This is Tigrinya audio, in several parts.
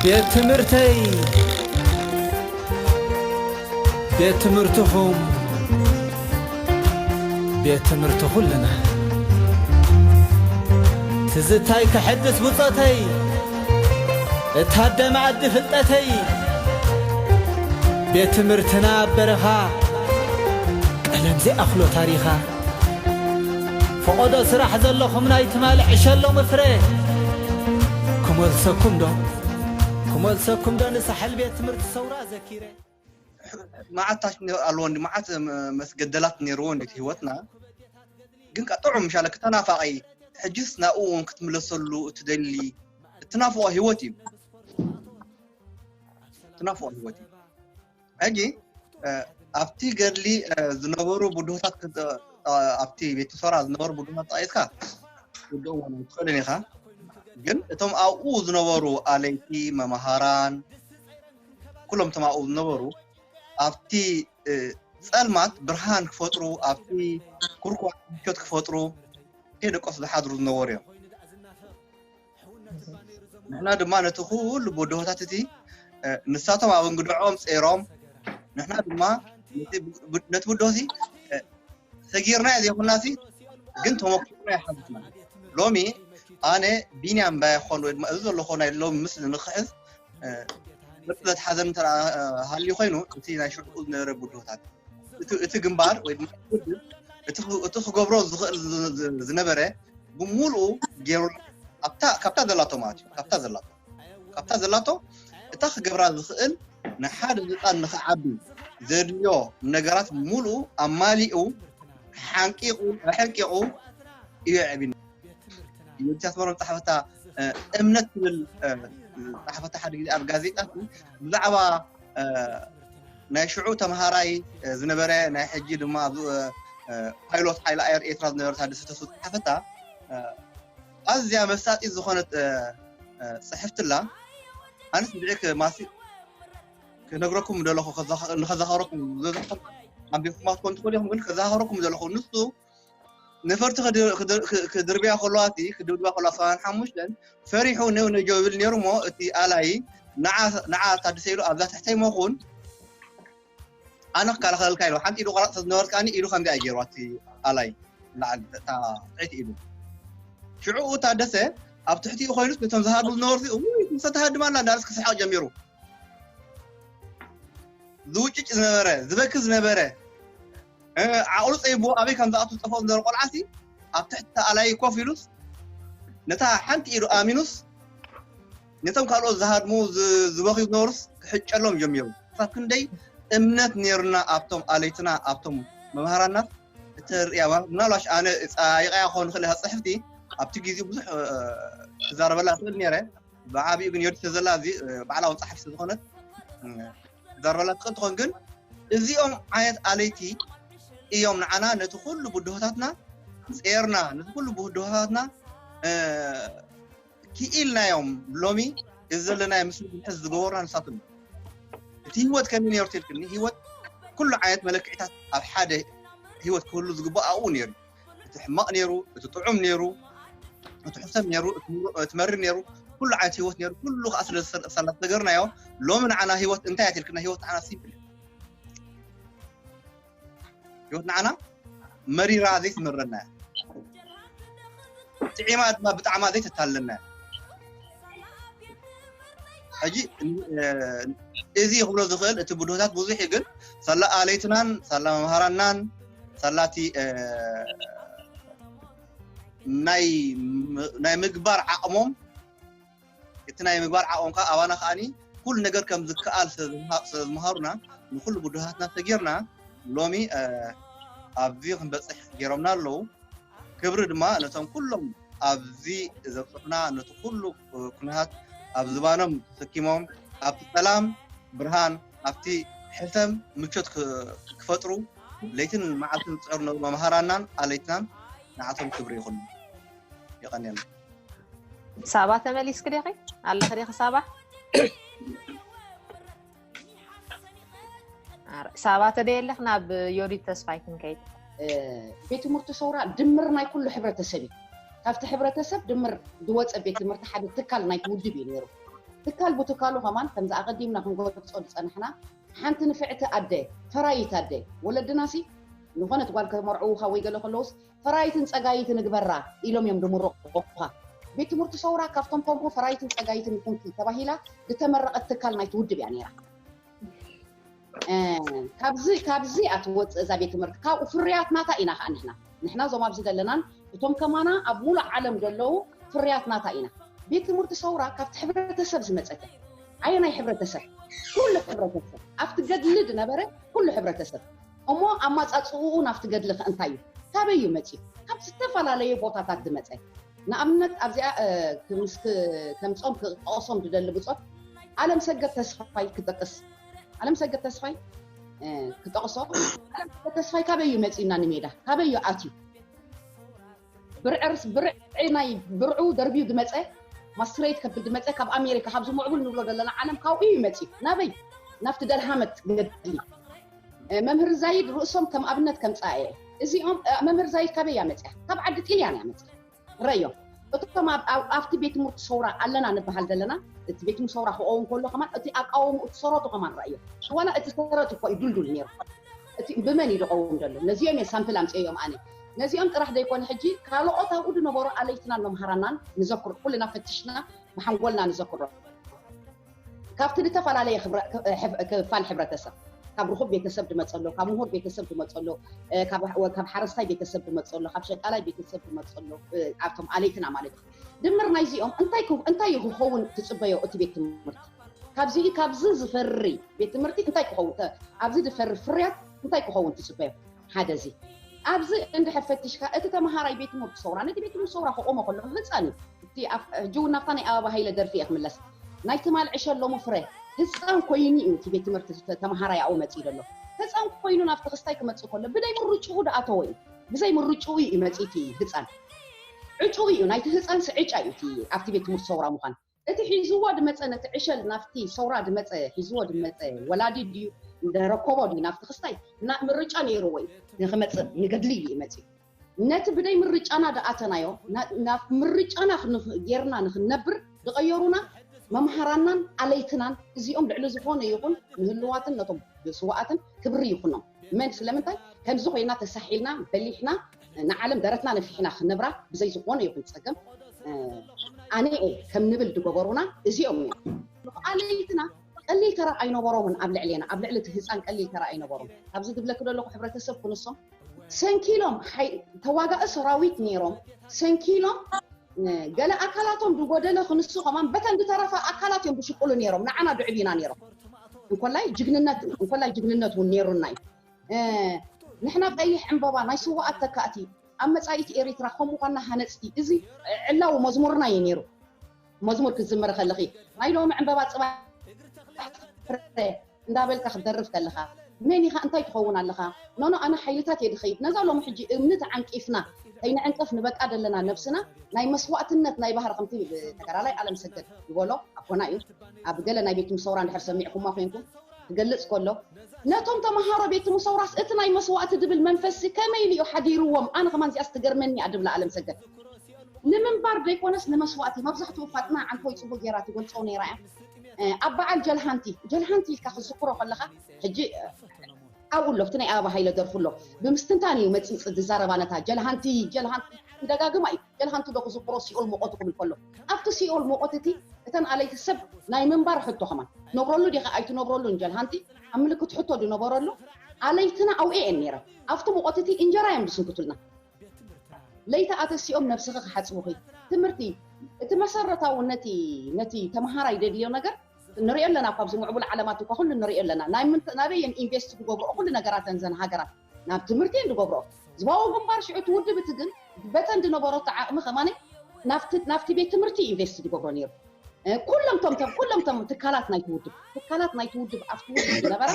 ቤት ትምህርተይ ቤት ትምህርትኹም ቤት ትምህርቲ ኹልና ትዝታይ ከሐድስ ብጾተይ እታደመ ኣዲ ፍልጠተይ ቤት ትምህርትና ኣብ በረኻ ቀለም ዘይኣኽሎ ታሪኻ ፈቆዶ ስራሕ ዘለኹም ናይ ትማሊ ዕሸ ሎሚ ፍረ ክመልሰኩም ዶ ክመልሰኩም ዶ ንሳሕል ቤት ትምህርቲ ሰውራ ዘኪረ። መዓት ታች ኣለዎ እንዲ መዓት መስገደላት ነይርዎ እንዲ ህይወትና ግን ከ ጥዑም ሻለ ክተናፋቂ ሕጅስ ናብኡ እውን ክትምለሰሉ እትደሊ እትናፍቆ ህይወት እዩ እትናፍቆ ህይወት እዩ ሕጂ ኣብቲ ገድሊ ዝነበሩ ብድሆታት ኣብቲ ቤት ሶራ ዝነበሩ ብድሆታት ጠቂስካ ውድኦም ውን ኣይትኽእልን ኢኻ ግን እቶም ኣብኡ ዝነበሩ ኣለይቲ መምሃራን ኩሎም እቶም ኣብኡ ዝነበሩ ኣብቲ ጸልማት ብርሃን ክፈጥሩ ኣብቲ ኩርኳ ምቾት ክፈጥሩ ከይደቀሱ ዝሓድሩ ዝነበሩ እዮም ንሕና ድማ ነቲ ኩሉ ብድሆታት እቲ ንሳቶም ኣብ እንግድዖም ጸይሮም ንሕና ድማ ነቲ ብድሆ እዚ ሰጊርናዮ ዘይኮና ሲ ግን ተመክሮና ይሓዝና ሎሚ ኣነ ቢንያም ባይኮን ወይ ድማ እዚ ዘለኮ ናይ ሎሚ ምስሊ ንክሕዝ ብርትነት ሓዘን እንተ ሃልዩ ኮይኑ እቲ ናይ ሽዑ ዝነበረ ብድሆታት እቲ ግንባር ወይ ድማ ውድብ እቲ ክገብሮ ዝኽእል ዝነበረ ብምሉኡ ገይሩ ካብታ ዘላቶ ማለት እዩ ካብታ ዘላቶ ካብታ ዘላቶ እታ ክገብራ ዝኽእል ንሓደ ህፃን ንክዓቢ ዘድልዮ ነገራት ምሉኡ ኣማሊኡ ሓንቂቑ ኣሕንቂቑ እዩ ኣዕቢና ንእስያስ ኣፈወርቂ ዝጸሓፈታ እምነት ትብል ዝጸሓፈታ ሓደ ግዜ ኣብ ጋዜጣ ብዛዕባ ናይ ሽዑ ተምሃራይ ዝነበረ ናይ ሕጂ ድማ ፓይሎት ሓይሊ ኣየር ኤርትራ ዝነበረ ታደሰ ተስፉ ዝጸሓፈታ ኣዝያ መሳጢት ዝኾነት ጽሕፍትላ ኣነስ ብዕክ ማሲ ክነግረኩም ደለኹ ንኸዛኸረኩም ዘዘኹም ኣንቢኹማ ትኮን ትኽእሉ ኢኹም ግን ከዛኸረኩም ዘለኹ ንሱ ነፈርቲ ክድርብያ ከለዋ እቲ ክድብድባ ከለዋ ሰብዓን ሓሙሽተን ፈሪሑ ኔው ኔው ይብል ነይሩ እሞ እቲ ኣላዪ ንዓ ንዓ ታደሰ ኢሉ ኣብዛ ትሕተይ መኹን ኣነ ክከላኸለልካ ኢሉ ሓንቲ ኢዱ ቆራፅ ስለዝነበረትካኒ ኢዱ ከምዚኣ እዩ ገይርዋ እቲ ኣላዪ ንላዕሊ እታ ትሕቲ ኢዱ ሽዕኡ ታደሰ ኣብ ትሕቲኡ ኮይኑስ ነቶም ዝሃድሙ ዝነበሩ እዚኦም ውይ ምስ ተሃድማ ኣላ እንዳበለስ ክስሕቕ ጀሚሩ ዝውጭጭ ዝነበረ ዝበኪ ዝነበረ እ፣ ዓቕሉ ፀይብዎ ኣበይ ከም ዝኣቱ ዝጠፍኦ ዝነበረ ቆልዓሲ ኣብ ትሕቲ ተኣላይ ኮፍ ኢሉስ ነታ ሓንቲ ኢዱ ኣሚኑስ ነቶም ካልኦት ዝሃድሙ ዝ- ዝበኽዩ ዝነበሩስ ክሕጨሎም ጀሚሩ ክሳብ ክንደይ እምነት ነይሩና ኣብቶም ኣለይትና ኣብቶም መምሃራና እተርእያዋ ምናልባሽ ኣነ ፃይቃያ ክኸውን ይኽእል እያ ፅሕፍቲ ኣብቲ ግዜ ብዙሕ እ፣ ክዛረበላ እኽእል ነይረ ብዓብኡ ግን ዮዲት ዘላ እዚ ባዕላዊ ጸሓፊ ዝኾነት ዘረበላ ትኽእል ትኾን ግን እዚኦም ዓይነት ኣለይቲ እዮም ንዓና ነቲ ኩሉ ብድሆታትና ጼርና ነቲ ኩሉ ብድሆታትና ክኢልናዮም ሎሚ እዚ ዘለናዮ ምስሊ ክንሕዝ ዝገበሩና ንሳቶም እቲ ህይወት ከመይ ነርቱ ኢልክኒ ህይወት ኩሉ ዓይነት መለክዒታት ኣብ ሓደ ህይወት ክህሉ ዝግባእ ኣብኡ ነይሩ እቲ ሕማቕ ነይሩ እቲ ጥዑም ነይሩ እቲ ሕሰም ነይሩ እቲ መሪር ነይሩ ኩሉ ዓይነት ሂወት ነይሩ ኩሉ ከዓ ስለዝተገርናዮ ሎሚ ንዓና ሂወት እንታይ እያ ትልክና ሂወት ንዓና ሲምፕል ሂወት ንዓና መሪራ ዘይትመረና እያ ጥዒማ ድማ ብጣዕማ ዘይተታለና እያ ሕጂ እዚ ክብሎ ዝኽእል እቲ ብድሆታት ብዙሕ እዩ ግን ሳላ ኣለይትናን ሳላ መምሃራናን ሳላ እቲ ናይ ምግባር ዓቕሞም እቲ ናይ ምግባር ዓቕሞም ከዓ ኣባና ከዓኒ ኩሉ ነገር ከም ዝከኣል ስለዝምሃሩና ንኩሉ ብድሃትና ተጌርና ሎሚ ኣብዚ ክንበፅሕ ገይሮምና ኣለዉ ክብሪ ድማ ነቶም ኩሎም ኣብዚ ዘብፅሑና ነቲ ኩሉ ኩነታት ኣብ ዝባኖም ተሰኪሞም ኣብ ሰላም ብርሃን ኣብቲ ሕልፈም ምቾት ክፈጥሩ ለይትን መዓልትን ዝፅዕሩ ዝነበሩ መምሃራናን ኣለይትናን ንዓቶም ክብሪ ይኹን። የቐንየልና። ሳባ ተመሊስክ ዲኺ ኣለኺ ዲኺ ሳባ ሳባ ተደየለኽ ናብ ዮዲት ተስፋይ ክንከይድ ቤት ትምህርቲ ሰውራ ድምር ናይ ኩሉ ሕብረተሰብ እዩ ካብቲ ሕብረተሰብ ድምር ዝወፀ ቤት ትምህርቲ ሓደ ትካል ናይቲ ውድብ እዩ ነይሩ ትካል ቡትካሉ ከማን ከምዚ ኣቐዲምና ክንገልጾ ዝጸናሕና ሓንቲ ንፍዕቲ ኣደ ፈራይት ኣደ ወለድናሲ ንኾነት ጓል ከመርዕዉኻ ወይ ገለ ከለውስ ፈራይትን ጸጋይትን ንግበራ ኢሎም እዮም ድምርቑኻ ቤት ትምህርቲ ሰውራ ካብቶም ከምኡ ፈራይትን ጸጋይትን ንኹንኪ ተባሂላ ዝተመረቐት ትካል ናይቲ ውድብ እያ ነይራ ካብዚ ካብዚ እያ ትወፅእ እዛ ቤት ትምህርቲ ካብኡ ፍርያት ናታ ኢና ከዓ ንሕና ንሕና እዞም ኣብዚ ዘለናን እቶም ከማና ኣብ ሙሉእ ዓለም ዘለዉ ፍርያት ናታ ኢና ቤት ትምህርቲ ሰውራ ካብቲ ሕብረተሰብ ዝመፀት እያ ኣየናይ ሕብረተሰብ ኩሉ ሕብረተሰብ ኣብቲ ገድሊ ዝነበረ ኩሉ ሕብረተሰብ እሞ ኣማፃፅኡ ናብቲ ገድሊ ከ እንታይ እዩ ካበይ እዩ መፅኡ ካብ ዝተፈላለየ ቦታታት ዝመፀ ንኣብነት ኣብዚኣ ከም ጾም ክጠቕሶም ዝደሊ ብጾት ኣለምሰገድ ተስፋይ ክጠቅስ ኣለምሰገድ ተስፋይ ክጠቕሶ ኣለምሰገድ ተስፋይ ካበይ እዩ መጺኡና ንሜዳ ካበይ እዩ ኣትዩ ብርዕርስ ብርዒ ናይ ብርዑ ደርብዩ ዝመጸ ማስትሬት ከብል ዝመፀ ካብ ኣሜሪካ ካብዚ ምዕቡል ንብሎ ዘለና ዓለም ካብኡ እዩ መፅኡ ናበይ ናብቲ ደልሃመት ገድሊ መምህር ዛይድ ርእሶም ከም ኣብነት ከምጽኣ እየ እዚኦም እ መምህር ዛይድ ካበይ እያ መጽያ ካብ ዓዲ ጥልያን እያ መጽያ ረዮም እቶም ኣብ ኣብ- ኣብቲ ቤት ትምህርቲ ሰውራ ኣለና ንበሃል ዘለና እቲ ቤት ትምህርቲ ሰውራ ክኸውን ከሎ ከማን እቲ ኣቃውምኡ እቲ ሰረቱ ከማን ረእዮ ዋላ እቲ ሰረት እኮ እዩ ዱልዱል ነይሩ እቲ ብመን እዩ ዝቐውም ዘሎ ነዚኦም እየ ሳምፕል ኣምጽኦም ኣነ ነዚኦም ጥራሕ ዘይኮነ ሕጂ ካልኦት ኣብኡ ዝነበሩ ኣለይትናን መምሃራናን ንዘክሮ ኩልና ፈትሽና ብሓንጎልና ንዘክሮ ካብቲ ልተፈላለየ ክፋል ሕብረተሰብ ካብ ርኹብ ቤተሰብ ድመጽእ ኣሎ፣ ካብ ምሁር ቤተሰብ ድመጽእ ኣሎ፣ ካብ ሓረስታይ ቤተሰብ ድመጽእ ኣሎ፣ ካብ ሸቃላይ ቤተሰብ ድመጽእ ኣሎ፣ ኣብቶም ኣለይትና ማለት እዩ። ድምር ናይዚኦም እንታይ እዩ ክኸውን ትጽበዮ እቲ ቤት ትምህርቲ? ካብዚ ካብዚ ዝፈሪ ቤት ትምህርቲ እንታይ ክኸውን ኣብዚ ድፈሪ ፍርያት እንታይ ክኸውን ትጽበዮ? ሓደ እዚ ኣብዚ እንድሕር ፈቲሽካ እቲ ተምሃራይ ቤት ትምህርቲ ሰውራ ነቲ ቤት ትምህርቲ ሰውራ ክቆሞ ከሎ ህፃን እዩ እቲ ሕጂ እውን ናብታ ናይ ኣበባ ሃይለ ደርፊ እየ ክምለስ ናይ ትማል ዕሸ ሎሚ ፍረ ህፃን ኮይኑ እዩ እቲ ቤት ትምህርቲ ተምሃራይ ኣብኡ መፂኡ ዘሎ ህፃን ኮይኑ ናብቲ ክስታይ ክመፅእ ከሎ ብደይ ምርጭኡ ድኣተወ እዩ ብዘይ ምርጭኡ እዩ መፂ እቲ ህፃን ዕጭኡ እዩ ናይቲ ህፃንስ ዕጫ እዩ እቲ ኣብቲ ቤት ትምህርቲ ሰውራ ምዃን እቲ ሒዝዎ ድመጸ ነቲ ዕሸል ናብቲ ሰውራ ድመጸ ሒዝዎ ድመጸ ወላዲ ድዩ ደረኮቦ ድዩ ናብቲ ክስታይ እና ምርጫ ነይርዎ እዩ ንክመጽእ ንገድሊ እዩ መጺኡ ነቲ ብደይ ምርጫና ድኣተናዮ ናብ ምርጫና ጌርና ንክንነብር ድቀየሩና መምሃራናን ኣለይትናን እዚኦም ልዕሊ ዝኮነ ይኩን ንህልዋትን ነቶም ስውኣትን ክብሪ ይኩኖም። መን ስለምንታይ ከምዚ ኮይና ተሳሒልና በሊሕና ንዓለም ደረትና ነፊሕና ክንነብራ ብዘይ ዝኾነ ይኹን ጸገም ኣኔኤ ከም ንብል ድገበሩና እዚኦም እዮም። ንፉዓለይትና ቀሊል ተራ ኣይነበሮምን ኣብ ልዕሌና ኣብ ልዕሊ እቲ ህጻን ቀሊል ተራ ኣይነበሮም ኣብዚ ድብለኪ ደለኹ ሕብረተሰብ ክንሶም ሰንኪሎም ተዋጋኢ ሰራዊት ነይሮም ሰንኪሎም ገለ ኣካላቶም ድጎደለ ክንሱ ከማን በተን ድተረፋ ኣካላት እዮም ድሽቁሉ ነይሮም ንዓና ድዕብዩና ነይሮም እንኮላይ ጅግንነት እዩ እንኮላይ ጅግንነት እውን ነይሩና እዩ ንሕና ቀይሕ ዕንበባ ናይ ስዋኣት ተካእቲ ኣብ መፃኢት ኤሪትራ ከምኡ ኳና ሃነፅቲ እዚ ዕላዊ መዝሙርና እዩ ነይሩ መዝሙር ክትዝምሪ ከለኺ ናይ ሎሚ ዕንበባ ፅባሕ ፍረ እንዳበልካ ክትደርፍ ከለኻ መን ኢኻ እንታይ ትኸውን ኣለኻ ኖኖ ኣነ ሓይልታት እየ ድኸይድ ነዛ ሎሚ ሕጂ እምኒ ተዓንቂፍና ከይንዕንቅፍ ንበቃ ዘለና ነብስና ናይ መስዋእትነት ናይ ባህር ከምቲ ተጋዳላይ ኣለምሰገድ ዝበሎ ኣቦና እዩ ኣብ ገለ ናይ ቤት ምሰውራ እንድሕር ሰሚዕኩማ ኮንኩም ክገልጽ ከሎ ነቶም ተማሃሮ ቤት ምሰውራስ እቲ ናይ መስዋእቲ ድብል መንፈስሲ ከመይ ኢሉ እዩ ሓዲርዎም ኣነ ከማን እዚኣስ ትገርመኒ እያ ድብላ ኣለምሰገድ ንምንባር ደይኮነስ ንመስዋእቲ መብዛሕትኡ ፋጥና ዓንተቦይ ጽቡቅ ጌራ ትገልጾ ነይራ እያ ኣብ በዓል ጀልሃንቲ ጀልሃንቲ ኢልካ ክትዝክሮ ከለኻ ሕጂ ኣብኡ ኣሎ እቲ ናይ ኣበባ ሃይለ ደርፉ ኣሎ ብምስትንታን እዩ መጺጽ ዝዛረባ ነታ ጀልሃንቲ ጀልሃንቲ ክደጋግማ እዩ ጀልሃንቲ ዶ ክዝክሮ ሲኦል ሞቆቱ ክብል ከሎ ኣብቲ ሲኦል ሞቆት እቲ እተን ኣለይቲ ሰብ ናይ ምንባር ሕቶ ከማን ትነብረሉ ዲካ ኣይትነብረሉ እንጀል ሃንቲ ኣብ ምልክት ሕቶ ድነበረሉ ኣለይትና ኣውኤ እየን ነይረን ኣብቲ ሞቆት እቲ እንጀራ እዮም ድስንክቱልና ለይቲ ኣተሲኦም ነብስኪ ክሓጽቡኪ ትምህርቲ እቲ መሰረታዊ ነቲ ነቲ ተማሃራይ ደድልዮ ነገር ንሪኦ ኣለና እኳ ኣብዚ ምዕቡል ዓለማት እኳ ኩሉ ንሪኦ ኣለና ናበይ እየን ኢንቨስት ዝገብርኦ ኩሉ ነገራተን ዘን ሃገራት ናብ ትምህርቲ እየን ዝገብርኦ። ህዝባዊ ግንባር ሽዑ እቲ ውድብ እቲ ግን በተን ዝነበረቶ ዓቕሚ ከማን ናብቲ ናብቲ ቤት ትምህርቲ እዩ ኢንቨስት ዝገብሮ ነይሩ። ኩሎም ቶም ቶም ኩሎም ቶም ትካላት ናይቲ ውድብ ትካላት ናይቲ ውድብ ኣብቲ ውድብ ዝነበራ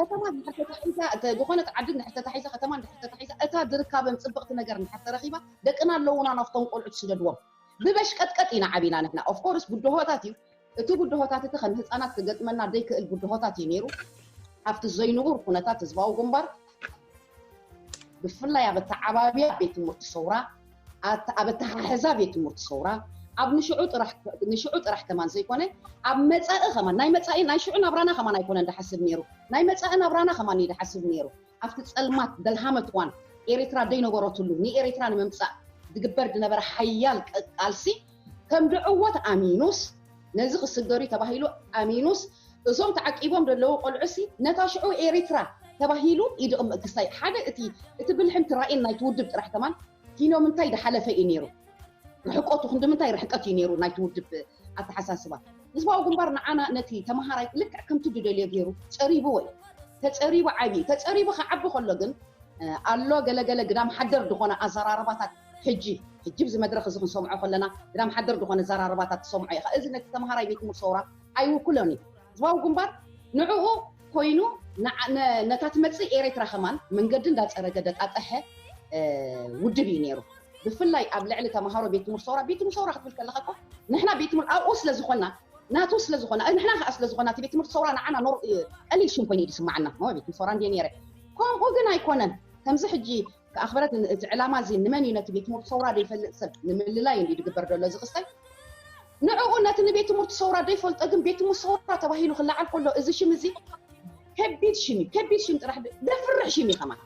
ከተማ እንድሕር ተታሒዛ እተ- ዝኾነት ዓዲ እንድሕር ተታሒዛ ከተማ እንድሕር ተታሒዛ እታ ዝርካበን ጽብቕቲ ነገር እንድሕር ተረኺባ ደቅና ኣለዉና ናብቶም ቆልዑ ትስደድዎም ብበሽቀጥቀጥ ኢና ዓቢና ንሕና ኦፍኮርስ ብድሆታት እዩ እቲ ብድሆታት እቲ ከም ህጻናት ክገጥመና ዘይክእል ብድሆታት እዩ ነይሩ። ኣብቲ ዘይንቡር ኩነታት ህዝባዊ ግንባር ብፍላይ ኣብ ኣተዓባብያ ቤት ትምህርቲ ሰውራ፣ ኣት- ኣብ ኣተሓሕዛ ቤት ትምህርቲ ሰውራ ኣብ ንሽዑ ጥራሕ ንሽዑ ጥራሕ ከማን ዘይኮነ ኣብ መጻኢ ከማን ናይ መጻኢ ናይ ሽዑ ናብራና ከማን ኣይኮነን ድሓስብ ነይሩ ናይ መጻኢ ናብራና ከማን እዩ ድሓስብ ነይሩ ኣብቲ ጸልማት ደልሃመት እዋን ኤሪትራ ደይነበረትሉ ንኤሪትራ ንምምጻእ ዝግበር ዝነበረ ሓያል ቅ- ቃልሲ ከም ድዕዎት ኣሚኑስ ነዚ ክስገርዩ ተባሂሉ ኣሚኑስ እዞም ተዓቂቦም ደለዉ ቆልዑሲ ነታ ሽዑ ኤሪትራ ተባሂሉ ይድቕምእ ክሳይ ሓደ እቲ እቲ ብልሕን ትራኢን ናይቲ ውድብ ጥራሕ ከማን ኪኖምንታይ ድሓለፈ እዩ ነይሩ ርሕቆቱ ክንድምንታይ ርሕቀት እዩ ነይሩ ናይቲ ውድብ ኣተሓሳስባ። ህዝባዊ ግንባር ንዓና ነቲ ተማሃራይ ልክዕ ከምቲ ድደልዮ ገይሩ ጸሪብዎ እዩ ተጸሪቡ ዓብዩ ተጸሪቡ ክዓቢ ከሎ ግን ኣሎ ገለ ገለ ግዳም ሓደር ድኾነ ኣዘራርባታት ሕጂ ሕጂ ብዚ መድረኽ እዚ ክንሰምዖ ከለና ግን ኣምሓደር ድኾነ ኣዘራርባታት ትሰምዖ ኢኻ እዚ ነቲ ተምሃራይ ቤት ትምህርቲ ሰውራ ኣይውክሎን እዩ ህዝባዊ ግንባር ንዕኡ ኮይኑ ነታ ትመጽእ ኤሬትራ ከማን መንገዲ እንዳጸረገ ደጣጠሐ ውድብ እዩ ነይሩ ብፍላይ ኣብ ልዕሊ ተምሃሮ ቤት ትምህርቲ ሰውራ ቤት ትምህርቲ ሰውራ ክትብል ከለኻ እኮ ንሕና ቤት ትምህርቲ ኣብኡ ስለ ዝኾና ናቱ ስለ ዝኾና ንሕና ከዓ ስለ ዝኾና እቲ ቤት ትምህርቲ ሰውራ ንዓና ኖር ቀሊል ሽም ኮይኑ እዩ ዝስማዓና ቤት ትምህርቲ ሰውራ እንድየ ነይረ ከምኡ ግን ኣይኮነን ከምዚ ሕጂ ተኣኽበረት ን እዚ ዕላማ እዚ ንመን እዩ ነቲ ቤት ትምህርቲ ሰውራ ዘይፈልጥ ሰብ ንምልላይ እንድዩ ዝግበር ዘሎ እዚ ክስተት ንዕኡ ነቲ ንቤት ትምህርቲ ሰውራ ዘይፈልጦ ግን ቤት ትምህርቲ ሰውራ ተባሂሉ ክለዓል ከሎ እዚ ሽም እዚ ከቢድ ሽም እዩ ከቢድ ሽም ጥራሕ ደፍርሕ ሽም እዩ ከማን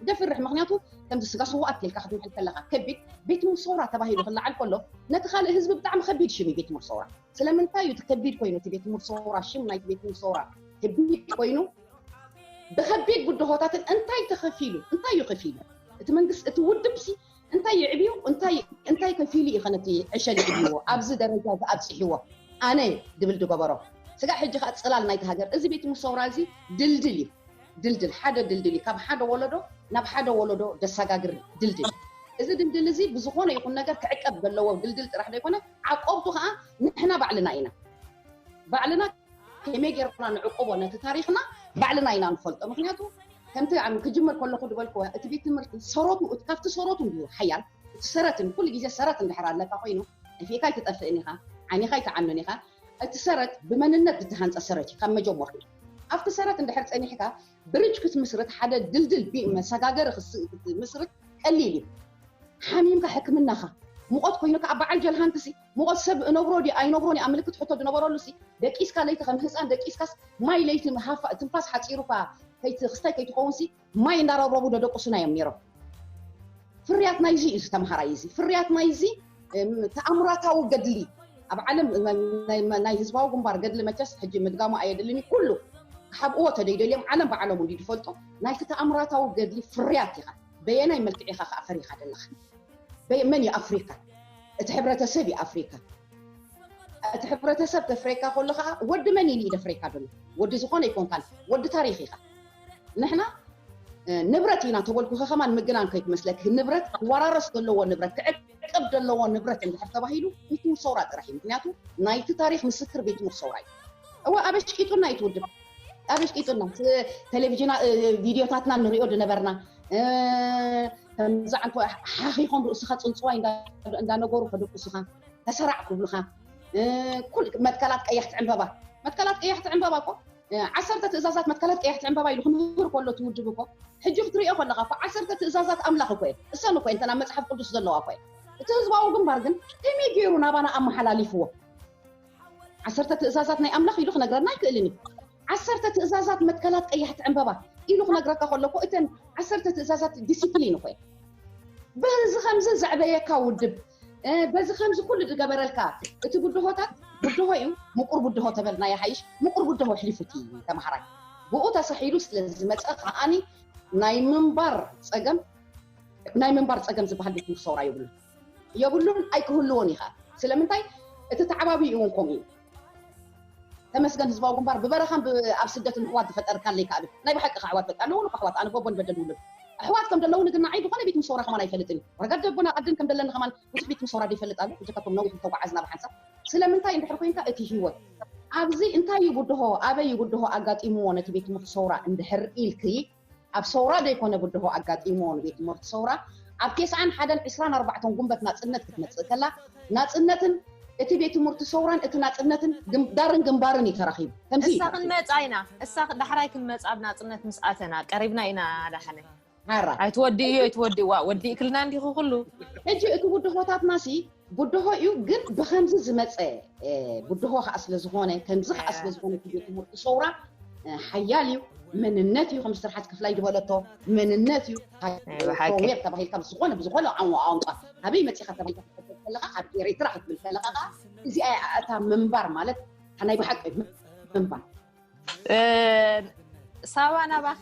ደፍርሕ ምክንያቱ ከምዚ ስጋ ስዋኣት ጌልካ ክትምሕል ከለካ ከቢድ ቤት ትምህርቲ ሰውራ ተባሂሉ ክለዓል ከሎ ነቲ ካልእ ህዝቢ ብጣዕሚ ከቢድ ሽም እዩ ቤት ትምህርቲ ሰውራ ስለምንታይ እዩ እቲ ከቢድ ኮይኑ እቲ ቤት ትምህርቲ ሰውራ ሽም ናይቲ ቤት ትምህርቲ ሰውራ ከቢድ ኮይኑ ብከቢድ ብድሆታትን እንታይ ተከፊሉ እንታይ እዩ ከፊሉ እቲ መንግስቲ እቲ ውድብ ሲ እንታይ ይዕብዩ እንታይ እንታይ ከፊሉ እዩ ከነቲ ዕሸል ይዕብዎ ኣብዚ ደረጃ ዝኣብጽሕዎ ኣነ ድብል ድገበሮ ስጋዕ ሕጂ ከኣ ጽላል ናይቲ ሃገር እዚ ቤት ሙሰውራ እዚ ድልድል እዩ ድልድል ሓደ ድልድል እዩ ካብ ሓደ ወለዶ ናብ ሓደ ወለዶ ደሳጋግር ድልድል እዚ ድልድል እዚ ብዝኾነ ይኹን ነገር ክዕቀብ ዘለዎ ድልድል ጥራሕ ዘይኮነ ዓቆብቱ ከኣ ንሕና ባዕልና ኢና ባዕልና ከመይ ጌርና ንዕቁቦ ነቲ ታሪኽና ባዕልና ኢና ንፈልጦ ምክንያቱ ከምቲ ክጅምር ከለኹ ዝበልክዎ እቲ ቤት ትምህርቲ ሰረቱ እቲ ካብቲ ሰረቱ እንድዩ ሓያል እቲ ሰረትን ኩሉ ግዜ ሰረት እንድሕር ኣለካ ኮይኑ ዕፌካ ኣይትጠፍእን ኢኻ ዓይኒኻ ኣይትዓኑን ኢኻ እቲ ሰረት ብመንነት ዝተሃንፀ ሰረት እዩ ካብ መጀመርቱ ኣብቲ ሰረት እንድሕር ፀኒሕካ ብርጅ ክትምስርት ሓደ ድልድል መሰጋገሪ ክትምስርት ቀሊል እዩ ሓሚምካ ሕክምናኻ ሙቐት ኮይኑ ከዓ በዓል ጀልሃንትሲ ሙቐት ሰብ እነብሮ ድየ ኣይነብሮን እኣ ምልክት ሕቶ ድነበረሉሲ፣ ደቂስካ ለይቲ ከም ህጻን ደቂስካስ ማይ ለይቲ ምሃፋ ትንፋስ ሓጺሩካ ከይት ክስታይ ከይትኸውንሲ ማይ እንዳረብረቡ ደደቁሱና እዮም ነይሮም። ፍርያት ናይዚ እዩ እዚ ተማሃራይ እዚ ፍርያት ናይዚ ተኣምራታዊ ገድሊ ኣብ ዓለም ናይ ህዝባዊ ግንባር ገድሊ መቸስ ሕጂ ምድጋሙ ኣየድልን እዩ ኩሉ ክሓብእዎ ተደይ ደልዮም ዓለም ባዕሎም እንዲ ድፈልጡ ናይቲ ተኣምራታዊ ገድሊ ፍርያት ኢኻ በየናይ መልክዕ ኢኻ ከኣ ፈሪኻ ደለኻ መን እዩ ኣፍሪካ እቲ ሕብረተሰብ እዩ ኣፍሪካ እቲ ሕብረተሰብ ተፍሬካ ከሎ ከዓ ወዲ መን እዩ ደፍሬካ ደሎ ወዲ ዝኾነ ይኮንካ ወዲ ታሪክ ኢካ ንሕና ንብረት ኢና ተበልኩ ከከማ ንምግናን ከይትመስለክ ንብረት ክወራረስ ዘለዎ ንብረት ክዕቅብ ዘለዎ ንብረት እንድሕር ተባሂሉ ቤት ምር ሰውራ ጥራሕ እዩ ምክንያቱ ናይቲ ታሪክ ምስክር ቤት ምር ሰውራ እዩ እወ ኣበሽ ቂጡና እዩ ትውድብ ኣበሽ ቂጡና ቴሌቭዥና ቪድዮታትና ንሪኦ ድነበርና ከምዝዓንተ ሓኺኾም ርእስኻ ፅንፅዋይ እንዳነገሩ ከደቁሱኻ ተሰራዕ ክብሉኻ ኩል መትከላት ቀያሕቲ ዕምበባ መትከላት ቀያሕቲ ዕምበባ እኮ ዓሰርተ ትእዛዛት መትከላት ቀያሕቲ ዕምበባ ኢሉ ክምህር ከሎ ትውድብ እኮ ሕጂ ክትሪኦ ከለካ እኮ ዓሰርተ ትእዛዛት ኣምላኽ እኮ እየ እሰን እኮ እንተና መፅሓፍ ቅዱስ ዘለዋ እኮ እየ እቲ ህዝባዊ ግንባር ግን ከመይ ገይሩ ናባና ኣመሓላሊፍዎ ዓሰርተ ትእዛዛት ናይ ኣምላኽ ኢሉ ክነግረና ኣይክእልን እዩ። ዓሰርተ ትእዛዛት መትከላት ቀያሕቲ ዕምበባ ኢሉ ክነግረካ ከሎ እኮ እተን ዓሰርተ ትእዛዛት ዲሲፕሊን እኮ እየን። በዚ ከምዚ ዘዕበየካ ውድብ በዚ ከምዚ ኩሉ ዝገበረልካ እቲ ብድሆታት ብድሆ እዩ ምቁር ብድሆ ተበልና ይሓይሽ ምቁር ብድሆ ኣሕሊፉቲ ተምሃራይ ብኡ ተሳሒሉ ስለ ዝመፀ ከዓኒ ናይ ምንባር ፀገም ናይ ምንባር ፀገም ዝበሃል ቤት ትምህርቲ ሰውራ የብሉ የብሉን ኣይክህልዎን እዩ ከኣ ስለምንታይ እቲ ተዓባብይኡ እውን ከምኡ እዩ ተመስገን ህዝባዊ ግንባር ብበረኻን ኣብ ስደትን ኣሕዋት ዝፈጠርካለይ ከኣ ናይ ብሓቂ ከኣ ኣሕዋት በቃ ኣለዉን ኣሕዋት ኣነ ጎቦን በደን ውልድ ኣሕዋት ከም ዘለዉኒ ግን ንዓይ ዝኾነ ቤት ምሰውራ ከማን ኣይፈልጥን እዩ ረጋድ ደቦን ኣቐድን ከም ደለኒ ከማን ብዙሕ ቤት ምሰውራ ደይፈልጥ ኣሎ ብጀካቶም ነዊሕ ዝተጓዓዝና ብሓንሳብ ስለምንታይ እንድሕር ኮንካ እቲ ህይወት ኣብዚ እንታይ እዩ ብድሆ ኣበይ እዩ ብድሆ ኣጋጢምዎ ነቲ ቤት ምሰውራ እንድሕር ኢልኪ ኣብ ሰውራ ዘይኮነ ብድሆ ኣጋጢምዎ ንቤት ትምህርቲ ሰውራ ኣብ ቴስዓን ሓደን ዕስራን ኣርባዕተን ጉንበት ናጽነት ክትመጽእ ከላ ናጽነትን እቲ ቤት ትምህርቲ ሰውራን እቲ ናጽነትን ግምዳርን ግንባርን እዩ ተራኺቡ ከምዚ እሳ ክንመጻ ኢና እሳ ዳሕራይ ክንመጻ ኣብ ናጽነት ምስ ኣተና ቀሪብና ኢና ዳሓነ ሓራ ኣይትወዲእዮ ኣይትወዲእዋ ወዲእክልና እንዲኹ ኩሉ ሕጂ እቲ ብድሆታትና ሲ ብድሆ እዩ ግን ብከምዚ ዝመፀ ብድሆ ከዓ ስለዝኾነ ከምዚ ከዓ ስለዝኾነ ግዜ ትምህርቲ ሰውራ ሓያል እዩ መንነት እዩ ከም ስርሓት ክፍላይ ዝበለቶ መንነት እዩ ሮዌር ተባሂልካ ብዝኾነ ብዝኾነ ቋንቋ ኣበይ መፂኻ ተባሂልካ ክትሕተት ከለካ ኣብ ኤሪትራ ክትብል ከለካ ከዓ እዚኣ እታ ምንባር ማለት ናይ ብሓቂ ምንባር ሳባ ናባኺ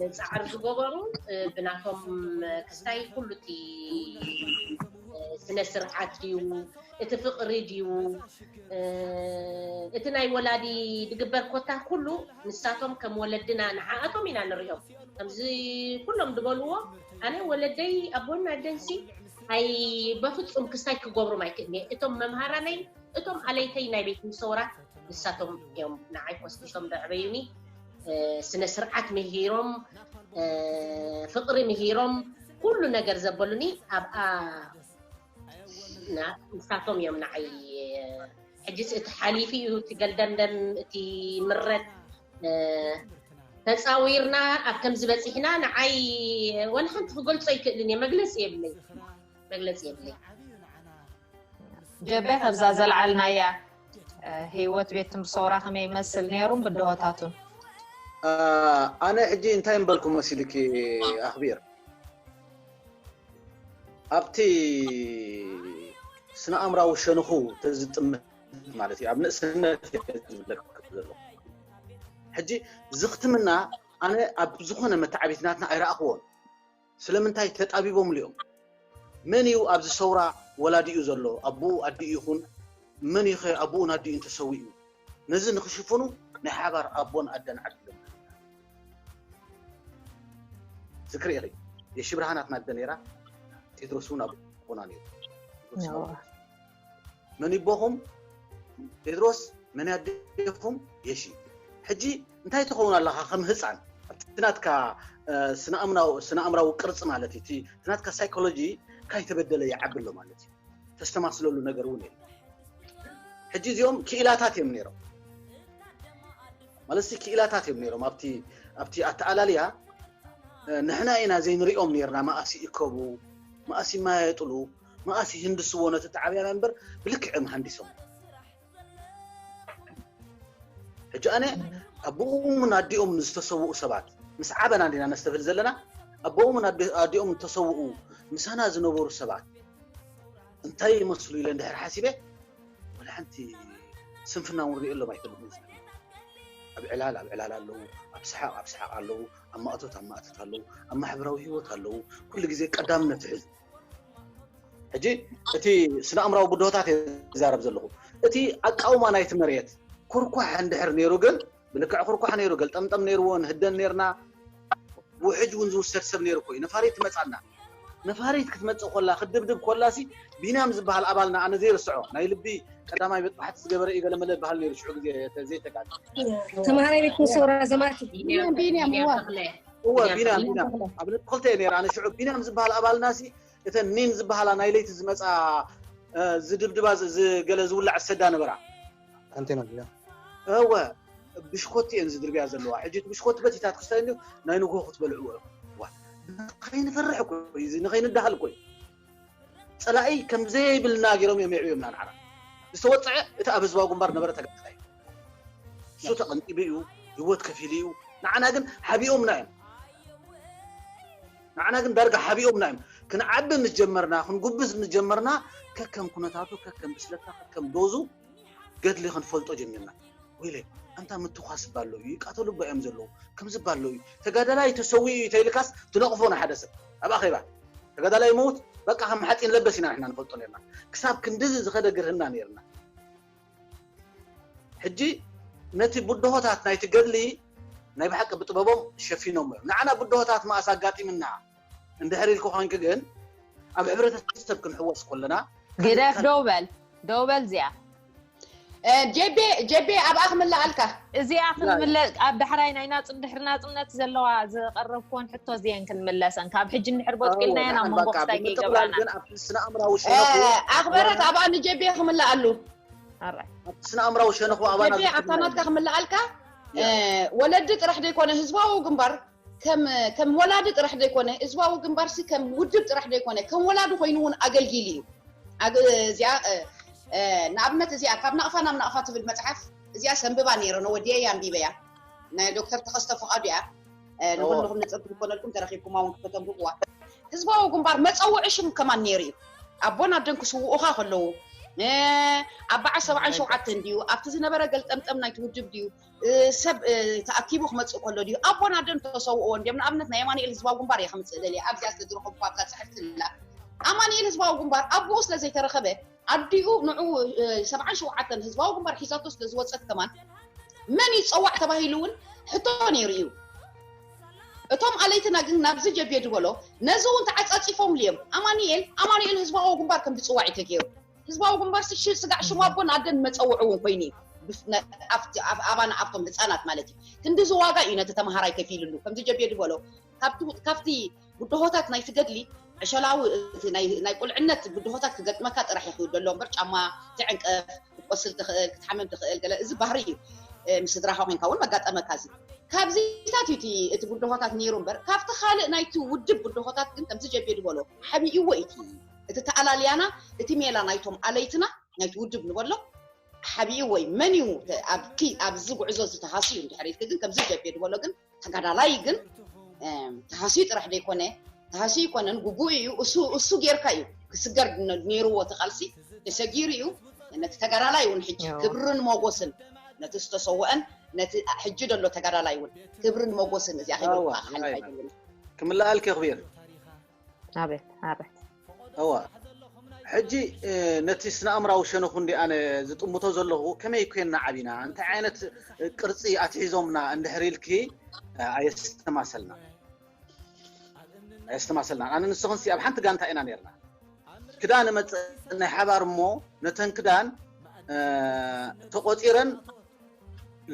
ንፃዕሪ ዝገበሩ ብናቶም ክስታይ ኩሉ እቲ ስነ ስርዓት ድዩ እቲ ፍቅሪ ድዩ እቲ ናይ ወላዲ ድግበር ኮታ ኩሉ ንሳቶም ከም ወለድና ንዓኣቶም ኢና ንሪኦም ከምዚ ኩሎም ድበልዎ ኣነ ወለደይ ኣቦን ኣደንሲ ኣይ በፍፁም ክስታይ ክገብሮም ኣይክእልየ እቶም መምሃራነይ እቶም ኣለይተይ ናይ ቤት ምሰውራ ንሳቶም እዮም ንዓይ ኮስኪሶም ደዕበዩኒ ስነ ስርዓት ምሂሮም ፍቅሪ ምሂሮም ኩሉ ነገር ዘበሉኒ ኣብኣ ንሳቶም እዮም ንዓይ ሕጂስ እቲ ሓሊፉ እዩ እቲ ገልደምደም እቲ ምረት ተፃዊርና ኣብ ከምዚ በፂሕና ንዓይ ወላ ሓንቲ ክገልፆ ኣይክእልን እየ መግለፂ የብለይ መግለፂ የብለይ ጀቤ ከብዛ ዘልዓልናያ ህይወት ቤት ትምህርቲ ሰውራ ከመይ ይመስል ነይሩን ብድሆታቱን ኣነ ሕጂ እንታይ ምበልኩ መሲልኪ ኣኽቢር ኣብቲ ስነ ኣእምራዊ ሸንኹ ተዝጥምት ማለት እዩ ኣብ ንእስነት ዝብለክ ዘሎ ሕጂ ዝኽትምና ኣነ ኣብ ዝኾነ መተዓቢትናትና ኣይረኣኽዎን ስለምንታይ ተጣቢቦምሉ እዮም? መን እዩ ኣብዚ ሰውራ ወላዲኡ ዘሎ? ኣቦኡ ኣዲኡ ይኹን መን እዩ ከ ኣቦኡን ኣዲኡን ተሰዊኡ? ነዚ ንክሽፍኑ ናይ ሓባር ኣቦን ኣደን ዓዲሎም ዝክሪ ኢኺ የሺ ብርሃን ኣትና ኣደ ነይራ ቴድሮስ እውን ኣቦና ነይሩ። መን ይቦኹም ጴጥሮስ መን ያዴኹም የሺ ሕጂ እንታይ ትኸውን ኣለኻ ከም ህፃን ኣብቲ ናትካ ስነኣምራዊ ቅርፂ ማለት እዩ እቲ ናትካ ሳይኮሎጂ ካይተበደለ ይዓቢ ኣሎ ማለት እዩ ተስተማስለሉ ነገር እውን የለ ሕጂ እዚኦም ክኢላታት እዮም ነይሮም ማለት ክኢላታት እዮም ነይሮም ኣብቲ ኣተኣላልያ ንሕና ኢና ዘይንሪኦም ነርና መኣሲ ይከቡ መኣሲ ይማየጥሉ መኣስ ይህንድስዎ ነቲ ጣዕብያና እምበር ብልክዕ እዮም ሃንዲሶም ሕጂ ኣነ ኣቦኦምን ኣዲኦም ዝተሰውኡ ሰባት ምስ ዓበና እንዲና ነስተብህል ዘለና ኣቦኦምን ኣዲኦም ዝተሰውኡ ምሳና ዝነበሩ ሰባት እንታይ ይመስሉ ኢለ እንድሕር ሓሲበ ወላ ሓንቲ ስንፍና እውን ሪኦሎም ኣይፈልጥን ኣብ ዕላል ኣብ ዕላል ኣለዉ ኣብ ሰሓቕ ኣብ ሰሓቕ ኣለዉ ኣብ ማእቶት ኣብ ማእቶት ኣለዉ ኣብ ማሕበራዊ ሂወት ኣለዉ ኩሉ ግዜ ቀዳምነት ይሕዙ ሕጂ እቲ ስነ ኣእምራዊ ብድሆታት እየ ዝዛረብ ዘለኹ እቲ ኣቃውማ ናይቲ መሬት ኩርኳሕ እንድሕር ነይሩ ግን ብልክዕ ኩርኳሕ ነይሩ ገልጠምጠም ነይርዎ ንህደን ነርና ውሕጅ እውን ዝውሰድ ሰብ ነይሩ ኮዩ ነፋሪት ትመፃና ነፋሪት ክትመፅእ ኮላ ክድብድብ ኮላሲ ቢንያም ዝበሃል ኣባልና ኣነ ዘይርስዖ ናይ ልቢ ቀዳማይ ቤት ፓሕቲ ዝገበረ እዩ ገለመለ ዝበሃል ነይሩ ሽዑ ግዜ ዘይተጋገ ተምሃራይ ቤት ሰውራ ዘማቲ ቢንያም ቢንያም እወ ቢንያም ቢንያም ተኽለ። ቢንያም ኣብ ነጥቢ ክልተ እየ ነይረ ኣነ ሽዑ ቢንያም ዝበሃል ኣባልናሲ እተን ኒን ዝበሃላ ናይ ለይቲ ዝመፅኣ እ፣ ዝድብድባ ዝ- ዝ- ገለ ዝውላዕ ዝሰዳ ነበራ ኣንቴና ድያ እወ ብሽኮቲ እየን ዝድርብያ ዘለዋ ሕጂ እቲ ብሽኮቲ በቲታ ትክስታይ እንዲ ናይ ንግሆ ክትበልዕዎ ኢኹም ዋ ንኸይንፈርሕ እኮ እዩ እዚ ንኸይንዳሃል እኮ እዩ ጸላኢ ከም ዘይብልና ገይሮም እዮም የዕብዮምና ንዓና። ዝተወጽዐ እቲ ኣብ ህዝባዊ ግንባር ዝነበረ ተጋዳላይ እዩ። እሱ ተቐንጢቡ እዩ፣ ህይወት ከፊሉ እዩ። ንዓና ግን ሓቢኦምና እዮም። ንዓና ግን ዳርጋ ሓቢኦምና እዮም። ክንዓቢ ምስ ጀመርና፣ ክንጉብዝ ምስ ጀመርና ከከም ኩነታቱ፣ ከከም ብስለትና፣ ከከም ዶዙ ገድሊ ክንፈልጦ ጀሚርና ወይለ ኣንታ ምትኳስ እባ ኣለዉ ይቃተሉ እባ እዮም ዘለዉ ከምዚ እባ ኣለዉ ተጋዳላይ ተሰዊኡ እዩ ተይልካስ ትነቕፎ ንሓደ ሰብ ኣብ ኣኼባ ተጋዳላይ መውት በቃ ከም ሓፂን ለበስ ኢና ንሕና ንፈልጦ ነርና ክሳብ ክንድዚ ዝኸደ ግርህና ነርና ሕጂ ነቲ ብድሆታት ናይቲ ገድሊ ናይ ብሓቂ ብጥበቦም ሸፊኖም እዮም ንዓና ብድሆታት መኣስ ኣጋጢምና እንድሕር ኢልኪ ኮንኪ ግን ኣብ ሕብረተሰብ ክንሕወስ ኮለና ግደፍ ደው በል ደው በል እዚኣ ጀቤ ጀቤ ኣብኣ ክምለኣልካ እዚኣ ክንምለ ኣብ ዳሕራይ ናይ ናጽ ድሕሪ ናጽነት ዘለዋ ዝቐረብክዎን ሕቶ እዚአን ክንምለሰን ካብ ሕጂ እንድሕር ቦጥቂልናየን ኣብ መንጎ ክስታይ ከይገብራና ግን ኣብቲ ስነ ኣእምራዊ ሸነኹ ኣኽበረት ኣብኣ ንጀቤ ክምለኣሉ ኣራይ ኣብቲ ስነ ኣእምራዊ ሸነኹ ኣባና ጀቤ ኣብታ ናትካ ክምለኣልካ ወለዲ ጥራሕ ዘይኮነ ህዝባዊ ግንባር ከም ከም ወላዲ ጥራሕ ዘይኮነ ህዝባዊ ግንባርሲ ከም ውድብ ጥራሕ ዘይኮነ ከም ወላዲ ኮይኑ እውን ኣገልጊሉ እዩ። ኣብ እዚኣ ንኣብነት እዚኣ ካብ ናቕፋ ናብ ናቕፋ ትብል መጽሓፍ እዚኣ ሰንብባ ነይረ ነው ወዲየያ ኣንቢበያ ናይ ዶክተር ተኸስተ ፍቓዱ እያ ንኹልኹም ነጸብቲ ዝኾነልኩም ተረኺብኩማ እውን ከተንብብዋ ህዝባዊ ግንባር መጸውዒ ሽም ከማን ነይሩ እዩ ኣቦን ኣደን ክስውኡኻ ከለዉ ኣብ በዓል ሰብዓን ሸውዓተን ድዩ ኣብቲ ዝነበረ ገልጠምጠም ናይቲ ውድብ ድዩ ሰብ ተኣኪቡ ክመጽእ ከሎ ድዩ ኣቦን ኣደን ተሰውእዎ እንድዮም ንኣብነት ናይ ኣማኒኤል ህዝባዊ ግንባር እየ ክምጽእ ደልየ ኣብዚኣ ስለ ዝረኸብኩ ኣብታ ጽሕፍቲ ንላ ኣማኒኤል ህዝባዊ ግንባር ኣቡኡ ስለ ዘይተረኸበ ኣዲኡ ንዑ ሰብዓን ሸውዓተን ህዝባዊ ግንባር ሒዛቶ ስለ ዝወጸት ከማን መን ይጸዋዕ ተባሂሉ እውን ሕቶ ነይሩ እዩ እቶም ኣለይትና ግን ናብዚ ጀብየ ድበሎ ነዚ እውን ተዓጻጺፎምሉ እዮም ኣማኒኤል ኣማኒኤል ህዝባዊ ግንባር ከም ዝጽዋዕ እዩ ተገይሩ ህዝባዊ ግንባርሲ ሽ ስጋዕ ሽሙ ኣቦን ኣደን መጸውዒ እውን ኮይኑ እዩ። ብፍ ነ ኣብቲ ኣብ ኣባና ኣብቶም ህጻናት ማለት እዩ። ክንድዚ ዋጋ እዩ ነቲ ተመሃራይ ከፊሉሉ። ከምዚ ጀቤ ድበሎ ካብቲ ካብቲ ብድሆታት ናይቲ ገድሊ ዕሸላዊ እቲ ናይ ናይ ቁልዕነት ብድሆታት ክገጥመካ ጥራሕ እዩ ክውዶ ዘሎ እምበር ጫማ ትዕንቀፍ፣ ክትቆስል ትኽእል፣ ክትሓምም ትኽእል ገለ እዚ ባህሪ እዩ። ምስ ስድራኻ ኮንካ እውን መጋጠመካ እዚ። ካብዚታት እዩ እቲ እቲ ብድሆታት ነይሩ እምበር ካብቲ ካልእ ናይቲ ውድብ ብድሆታት ግን ከምዚ ጀቤ ድበሎ ሓቢእዎ እዩ እቲ እቲ ተኣላልያና እቲ ሜላ ናይቶም ኣለይትና ናይቲ ውድብ ንበሎ ሓቢኡ ወይ መን እዩ ኣብቲ ኣብዚ ጉዕዞ እዚ ተሃስዩ እንድሕር ኢልኪ ግን ከምዚ ጀቤ ዝበሎ ግን ተጋዳላይ ግን ተሃስዩ ጥራሕ ዘይኮነ ተሃስዩ ይኮነን ጉጉኡ እዩ እሱ እሱ ጌርካ እዩ ክስገር ነይርዎ እቲ ቃልሲ ተሰጊሩ እዩ ነቲ ተጋዳላይ እውን ሕጂ ክብርን ሞጎስን ነቲ ዝተሰወአን ነቲ ሕጂ ዘሎ ተጋዳላይ እውን ክብርን ሞጎስን እዚኣ ክብሪ ክምለኣልኪ ክቢር ሕጂ ነቲ ስነኣምራዊ ሸነኹ እንዲ ኣነ ዝጥምቶ ዘለኹ ከመይ ኮይና ዓቢና እንታይ ዓይነት ቅርጺ ኣትሒዞምና እንድሕር ኢልኪ ኣየስተማሰልና ኣየስተማሰልና ኣነ ንስኽንሲ ኣብ ሓንቲ ጋንታ ኢና ነርና ክዳን መፅእ ናይ ሓባር እሞ ነተን ክዳን ተቆፂረን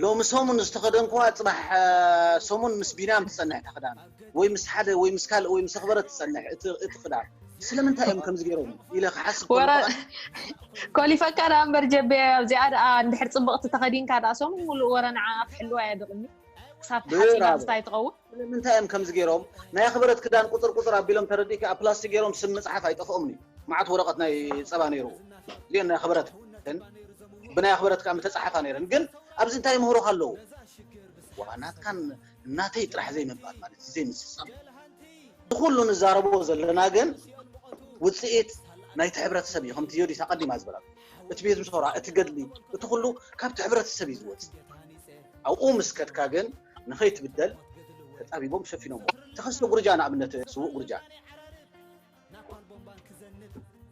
ሎሚ ሰሙን ዝተኸደንኩዋ ጽባሕ ሰሙን ምስ ቢንያም ትጸንሕ እታ ክዳን ወይ ምስ ሓደ ወይ ምስ ካልእ ወይ ምስ ኣኽበረ ትጸንሕ እቲ ክዳን ስለምንታይ እዮም ከምዚ ገይሮም ኢለ ክሓስብ ኮሊፈካ ዳ እምበር ጀቤ ኣብዚኣ ደኣ እንድሕር ፅብቕቲ ተኸዲንካ ደኣ ሰሙን ሙሉእ ወረ ንዓኣ ክሕልዋ እየ ድቕኒ ክሳብ ሓፂና ምስታ ኣይትኸውን ስለምንታይ እዮም ከምዚ ጌሮም ናይ ኣኽበረት ክዳን ቁጽር ቁጽር ኣቢሎም ተረዲእኪ ኣብ ፕላስቲክ ጌሮም ስም ምጽሓፍ ኣይጠፍኦምን እዩ መዓት ወረቐት ናይ ጸባ ነይሩ እዚኤን ናይ ኣኽበረት ብናይ ኣኽበረት ከኣ ምተጻሓፋ ነይረን ግን ኣብዚ እንታይ ምህሮኻ ኣለዎ ዋ ናትካን ናተይ ጥራሕ ዘይምባል ማለት እዩ ዘይምስሳም ንኹሉ ንዛረቦ ዘለና ግን ውጽኢት ናይቲ ሕብረተሰብ እዩ ከምቲ ዮዲት ኣቐዲማ ዝበላ እቲ ቤት ምሶራ እቲ ገድሊ እቲ ኩሉ ካብቲ ሕብረተሰብ እዩ ዝወፅ ኣብኡ ምስ ከድካ ግን ንኸይትብደል ተጣቢቦም ሸፊኖሞ ተኸስተ ጉርጃ ንኣብነት ስውእ ጉርጃ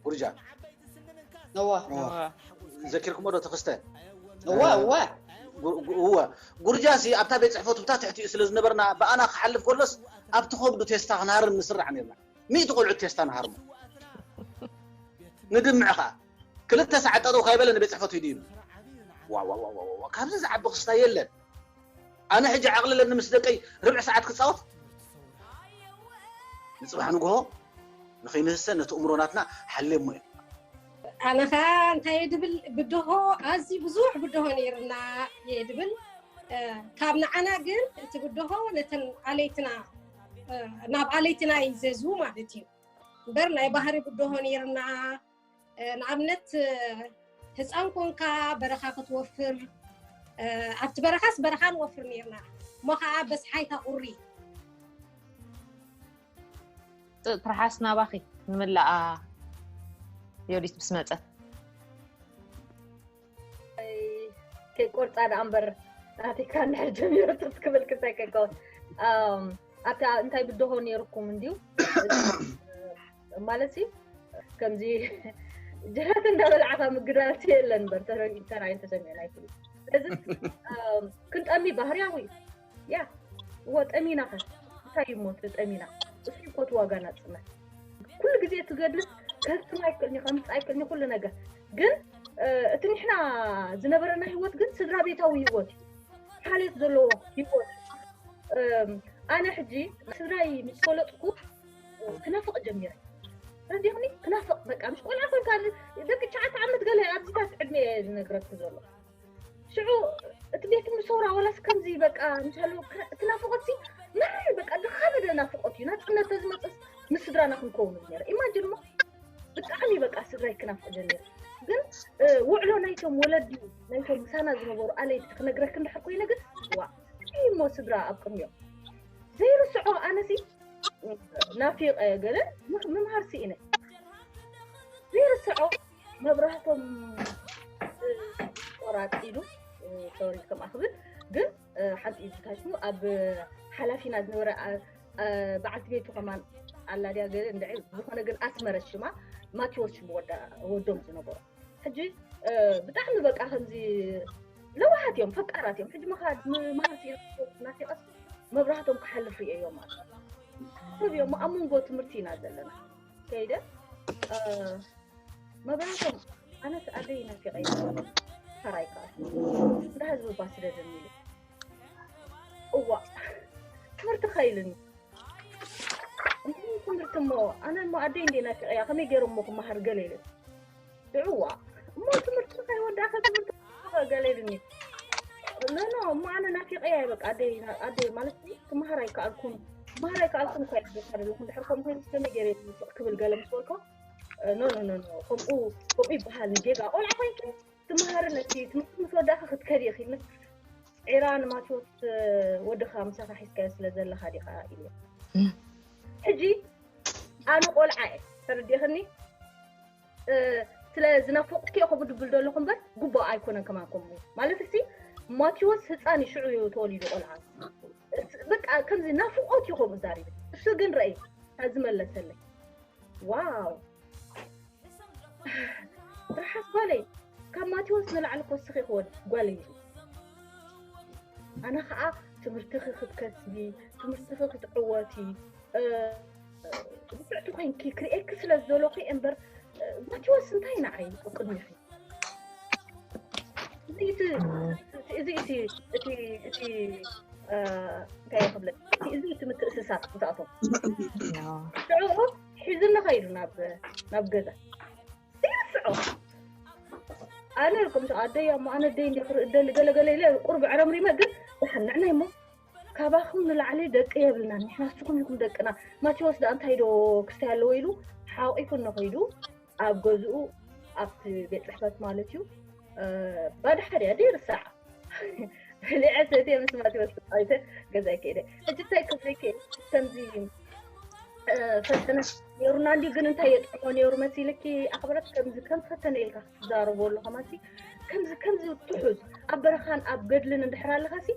ጉርጃ ዘኪርኩሞ ዶ ተኸስተ እወ እወ እወ ጉርጃ ሲ ኣብታ ቤት ፅሕፈቱ ብታ ትሕቲኡ ስለ ዝነበርና ብኣና ክሓልፍ ከሎስ ኣብቲ ከብዱ ቴስታ ክንሃርም ንስራሕ ነርና ሚእቲ ቆልዑት ቴስታ ንሃርሞ ንድምዕ ከኣ ክልተ ሰዓት ጠጠው ካይበለ ንቤት ፅሕፈቱ ሂዱ ይብል ዋዋዋዋ ካብዚ ዝዓቢ ክስታ የለን ኣነ ሕጂ ዓቕልለኒ ምስ ደቀይ ርብዒ ሰዓት ክፃወት ንፅባሕ ንግሆ ንኸይንህሰ ነቲ እምሮ ናትና ሓሌሞ እዩ ኣነ ከዓ እንታይ ድብል ብድሆ ኣዝዩ ብዙሕ ብድሆ ነይርና እየ ድብል ካብ ንዓና ግን እቲ ብድሆ ነተን ኣለይትና ናብ ኣለይቲ ናይ ዘዝቡ ማለት እዩ እምበር ናይ ባህሪ ብድሆ ነይርና ንኣብነት ህፃን ኮንካ በረኻ ክትወፍር ኣብቲ በረኻስ በረኻ ንወፍር ነይርና እሞ ከዓ በስሓይታ ቁሪ ትርሓስ ናባኺ ንምላኣ ዮዲት ምስ መፀት ከይቆርፃ ደኣ እምበር ናቲካ እንድሕር ጀሚረቶ ትክብል ክሳይ ከይከውን ኣብታ እንታይ ብድሆ ነይርኩም እንድዩ ማለት ሲ ከምዚ ጀራት እንዳበላዕካ ምግዳልቲ የለን በር ተራይን ተሰሚዑ ኣይትብሉ ስለዚ ክንጠሚ ባህርያዊ እዩ ያ እወ ጠሚና ከ እንታይ እዩ ሞት ጠሚና እሱ ይኮት ዋጋ ናፅነት ኩሉ ግዜ እቲ ገድልስ ከህትም ኣይክእልኒ ከምፅ ኣይክእልኒ ኩሉ ነገር ግን እቲ ንሕና ዝነበረና ህይወት ግን ስድራ ቤታዊ ህይወት እዩ ሓልዮት ዘለዎ ህይወት ኣነ ሕጂ ስድራይ ምስ ፈለጥኩ ክነፍቕ ጀሚረ ረዲኹኒ ክናፍቕ በቃ ምስ ቆልዓ ኮንካ ደቂ ትሽዓተ ዓመት ገለ ኣብዚታት ዕድሜ ዝነግረኪ ዘሎ ሽዑ እቲ ቤት ትምህርቲ ሰውራ ዋላስ ከምዚ በቃ እንተሎ እቲ ናፍቆት ሲ መረር በቃ ዝኸበደ ናፍቆት እዩ ናፅነት ተዝመፅስ ምስ ስድራና ክንከውን ነረ ኢማጅን እሞ ብጣዕሚ በቃ ስድራይ ክናፍቅ ጀሚረ ግን እ፣ ውዕሎ ናይቶም ወለዲ ናይቶም ምሳና ዝነበሩ ኣለይቲ ክነግረክ እንድሕር ኮይነ ግን ዋ እንታይ እሞ ስድራ ኣብ ቅድሚኦም ዘይርስዖ ኣነሲ ናፊቀ ገለ ምምሃር ስኢነ ዘይርስዖ መብራህቶም ቆራጥ ኢሉ ሶሪ ከም ኣኽብል ግን ሓንቲ ኢድ ታሹ ኣብ ሓላፊና ዝነበረ በዓልቲ ቤቱ ከማን ኣላ ድያ ገለ እንድዒ ዝኾነ ግን ኣስመረት ሽማ ማቴዎስ ሽሙ ወዶም ዝነበሩ ሕጂ ብጣዕሚ በቃ ከምዚ ለዋሃት እዮም ፈቃራት እዮም ሕጂ መኻድ መሃርቲ ናፊቐስ መብራህቶም ክሓልፍ ርእየዮ ማለት ሰብ እዮም ኣብ መንጎ ትምህርቲ ኢና ዘለና ከይደ መብራቶም ኣነስ ኣደይ ናፊቀ ሰራይ ከዓ እንዳ ህዝቢ ባ ስደድን ኢሉ እዋ ትምህርቲ ከይልኒ እንታይ ትምህርቲ እሞ ኣነ እሞ ኣደይ እንደ ናፊቀያ ከመይ ገይረ እሞ ክመሃር ገለ ኢለ እዋ እሞ ትምህርቲ ከይወዳእከ ትምህርቲ ገለ ኢሉኒ ኖኖ እሞ ኣነ ናፊቀያ በቃ ኣደይ ኣደይ ማለት ክመሃር ኣይከኣልኩን ክመሃር ኣይከኣልኩን እኳ ይሕደካ ዘለኹ እንድሕር ከምኡ ኮይኑ ከመይ ገይረ ዝውፅቕ ክብል ገለ ምስ በልኮ ኖኖ ኖኖ ከምኡ ከምኡ ይበሃል ንጌጋ ቆልዓ ኮይንኪ ትመሃርን እቲ ትምህርቲ ምስ ወዳእኺ ክትከዲ ኢኺ ምስ ዒራ ንማቴዎስ ወድኻ ምሳኻ ሒዝካዮ ስለ ዘለኻ ዲኻ ኢሉ ሕጂ ኣነ ቆልዓ እየ ተረዲእኽኒ ስለ ዝናፈቁኪ ኢኹ ድብል ዘለኹ እምበር ጉቡኣ ኣይኮነን ከማኩም ማለት ሲ ማቴዎስ ህፃን እዩ ሽዑ እዩ ተወሊዱ ቆልዓ በቃ ከምዚ ናፍቆት እዩ ከምኡ ዛሪብ እሱ ግን ረእይ ኣዚ መለሰለይ ዋው ርሓስ ጓለይ ካብ ማቴዎስ ንላዕሊ ኮስኺ ክወድ ጓለይ ኣነ ከዓ ትምህርትኺ ክትከስቢ ትምህርትኺ ክትዕወቲ ብቅዕቲ ኮይንኪ ክርእየኪ ስለ ዝደለኹ እምበር ማቴዎስ እንታይ ንዓይ ኣብ ቅድሚኺ እዚ እቲ እዚ እቲ እቲ እቲ እንታይ ክብለ እዚ እቲ ምትእስሳር ዝኣቶም ሽዑኡ ሒዝኒ ከይዱ ናብ ናብ ገዛ ይርስዖ ኣነ ልኩም ኣደይ ኣሞ ኣነ ደይ እንዲ ክርኢ ደሊ ገለገለ ኢለ ቁርብ ዕረምሪመ ግን ዝሓንዕናይ እሞ ካባኹም ንላዕሊ ደቂ የብልናን ንሕና ንስኹም ኢኹም ደቅና ማቴዎስ ዳኣ እንታይ ዶ ክስታይ ኣለዎ ኢሉ ሓቂፉ እነኸይዱ ኣብ ገዝኡ ኣብቲ ቤት ፅሕፈት ማለት እዩ ባዶ ሓደ እያ ደይርሳዕ በሊዐ ሰትየ ምስ ማቴዎስ ተፃዊተ ገዛይ ከይደ ሕጂ እንታይ ክብለይከ ከምዚ ፈተነ ነይሩና እንዲ ግን እንታይ የጥዕሞ ነይሩ መሲልኪ ኣኽብረት ከምዚ ከም ፈተነ ኢልካ ትዛረቡ ኣለኹምሲ ከምዚ ከምዚ ትሑዝ ኣብ በረኻን ኣብ ገድልን እንድሕር ኣለኻሲ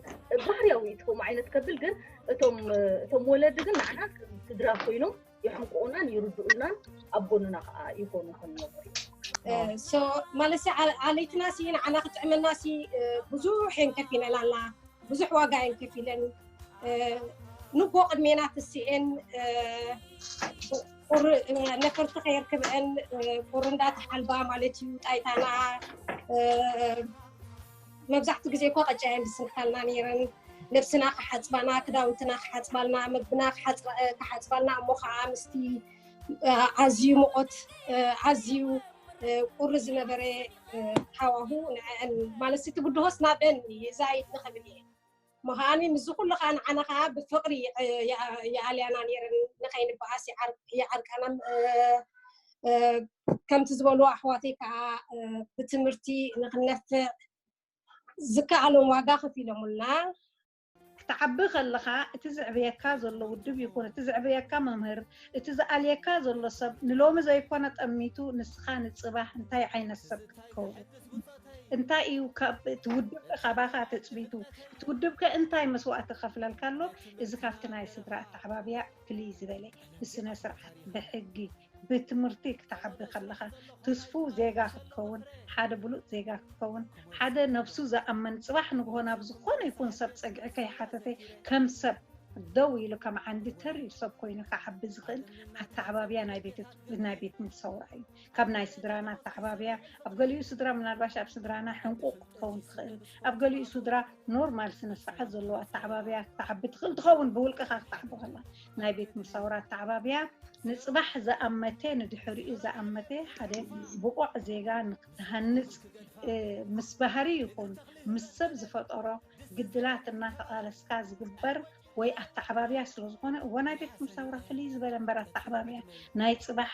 ባህርያዊ እዩ ትከም ዓይነት ከብል ግን እቶም እቶም ወለዲ ግን ንዓና ስድራ ኮይኖም ይሕንቁኡናን ይርድኡናን ኣብ ጎንና ከዓ ይኮኑ ከምነበር ማለት ዓለይትና ሲ ንዓና ክጥዕመና ሲ ብዙሕ የን ከፊለን ኣላ ብዙሕ ዋጋ የን ከፊለን ንጎ ቅድሜና ትስኤን ቁሪ ነፈርቲ ከየርክበአን ቁሪ እንዳተሓልባ ማለት እዩ ጣይታና መብዛሕትኡ ግዜ እኮ ቀጫ እየን ዝስንካልና ነይረን ነብስና ክሓፅባና ክዳውንትና ክሓፅባልና ምግብና ክሓፅባልና እሞ ከዓ ምስቲ ኣዝዩ ሙቆት ኣዝዩ ቁሪ ዝነበረ ሃዋሁ ንዐን ማለት እቲ ብድሆስ ናበን ዛይድ ንክብል እየ እሞ ከዓኒ ምስዚ ኩሉ ከዓ ንዓና ከዓ ብፍቕሪ ይኣልያና ነይረን ንኸይንበኣስ ይዓርቃና ከምቲ ዝበልዎ ኣሕዋተይ ከዓ ብትምህርቲ ንኽነፍዕ ዝከኣሎም ዋጋ ከፊሎምልና። ክትዓቢ ከለኻ እቲ ዘዕብየካ ዘሎ ውድብ ይኹን እቲ ዘዕብየካ መምህር እቲ ዝኣልየካ ዘሎ ሰብ ንሎሚ ዘይኮነ ጠሚቱ ንስኻ ንጽባህ እንታይ ዓይነት ሰብ ክትከውን እንታይ እዩ እቲ ውድብ ካባኻ ትፅቢቱ እቲ ውድብ ከ እንታይ መስዋእቲ ከፍለልካ ኣሎ እዚ ካብቲ ናይ ስድራ ኣተዓባብያ ፍልይ ዝበለ ብስነ ስርዓት ብሕጊ ብትምህርቲ ክትዓቢ ከለኻ ትስፉ ዜጋ ክትከውን ሓደ ብሉፅ ዜጋ ክትከውን ሓደ ነብሱ ዝኣመን ፅባሕ ንግሆ ናብ ዝኾነ ይኹን ሰብ ፀግዒ ከይሓተተ ከም ሰብ ደው ኢሉ ከም ዓንዲ ተሪር ሰብ ኮይኑ ክዓቢ ዝኽእል ኣተዓባብያ ናይ ቤት ትምህርቲ ሰውራ እዩ። ካብ ናይ ስድራና ኣተዓባብያ ኣብ ገሊኡ ስድራ ምናልባሽ ኣብ ስድራና ሕንቁቕ ክትኸውን ትኽእል፣ ኣብ ገሊኡ ስድራ ኖርማል ስነ ስርዓት ዘለዎ ኣተዓባብያ ክትዓቢ ትኽእል ትኸውን ብውልቅኻ ክትዓቢ ከላ። ናይ ቤት ትምህርቲ ሰውራ ኣተዓባብያ ንጽባሕ ዝኣመተ ንድሕሪኡ ዝኣመተ ሓደ ብቑዕ ዜጋ ንክትሃንጽ ምስ ባህሪ ይኹን ምስ ሰብ ዝፈጠሮ ግድላት እናተቓለስካ ዝግበር ወይ ኣተዓባብያ ስለዝኾነ እወ ናይ ቤት ትምህርቲ ሳውራ ፍልይ ዝበለ እምበር ኣተዓባብያ ናይ ፅባሕ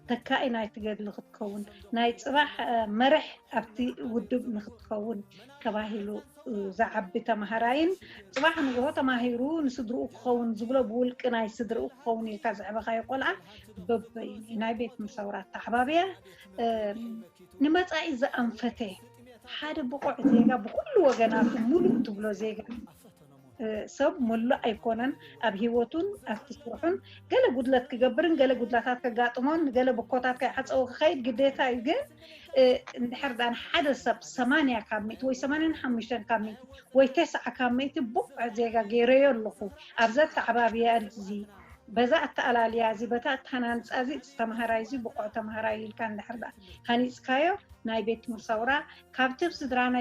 ተካኢ ናይቲ ገድሊ ክትከውን ናይ ፅባሕ መርሕ ኣብቲ ውድብ ንክትከውን ተባሂሉ ዝዓቢ ተምሃራይን ፅባሕ ንግሆ ተማሂሩ ንስድርኡ ክኸውን ዝብሎ ብውልቂ ናይ ስድርኡ ክኸውን ኢልካ ዘዕበኻዮ ቆልዓ በበይ ናይ ቤት ምሰውራ ተዓባብያ ንመፃኢ ዘኣንፈተ ሓደ ብቑዕ ዜጋ ብኹሉ ወገናቱ ሙሉእ ትብሎ ዜጋ ሰብ መሉእ ኣይኮነን ኣብ ሂወቱን ኣብቲ ስርሑን ገለ ጉድለት ክገብርን ገለ ጉድላታት ከጋጥሞን ንገለ ብኮታት ከይዓፀወ ክኸይድ ግዴታ እዩ ግን እንድሕር ዳኣ ንሓደ ሰብ ሰማንያ ካብ ሚእቲ ወይ ሰማንያን ሓሙሽተን ካብ ሚእቲ ወይ ተስዓ ካብ ሚእቲ ብቑዕ ዜጋ ገይረዮ ኣለኹ ኣብዚ ኣተዓባብያ እዚ በዛ ኣተኣላልያ እዚ በታ ኣተሃናንፃ እዚ እቲ ተምሃራይ እዚ ብቑዕ ተምሃራይ ኢልካ እንድሕር ዳኣ ሃኒጽካዮ ናይ ቤት ትምህርቲ ሰውራ ካብቲ ኣብ ስድራና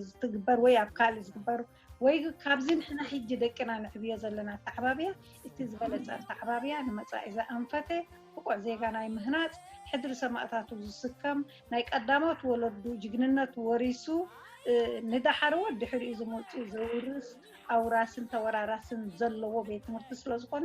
ዝትግበር ወይ ኣብ ካልእ ዝግበር ወይ ካብዚ ንሕና ሕጂ ደቅና ንዕብዮ ዘለና ኣተዓባብያ እቲ ዝበለጸ ኣተዓባብያ ንመጻኢ ዘኣንፈተ ብቑዕ ዜጋ ናይ ምህናጽ ሕድሪ ሰማእታቱ ዝስከም ናይ ቀዳሞት ወለዱ ጅግንነት ወሪሱ ንደሓረዎት ድሕሪኡ ዝመጹ ዘውርስ ኣውራስን ተወራራስን ዘለዎ ቤት ትምህርቲ ስለዝኾነ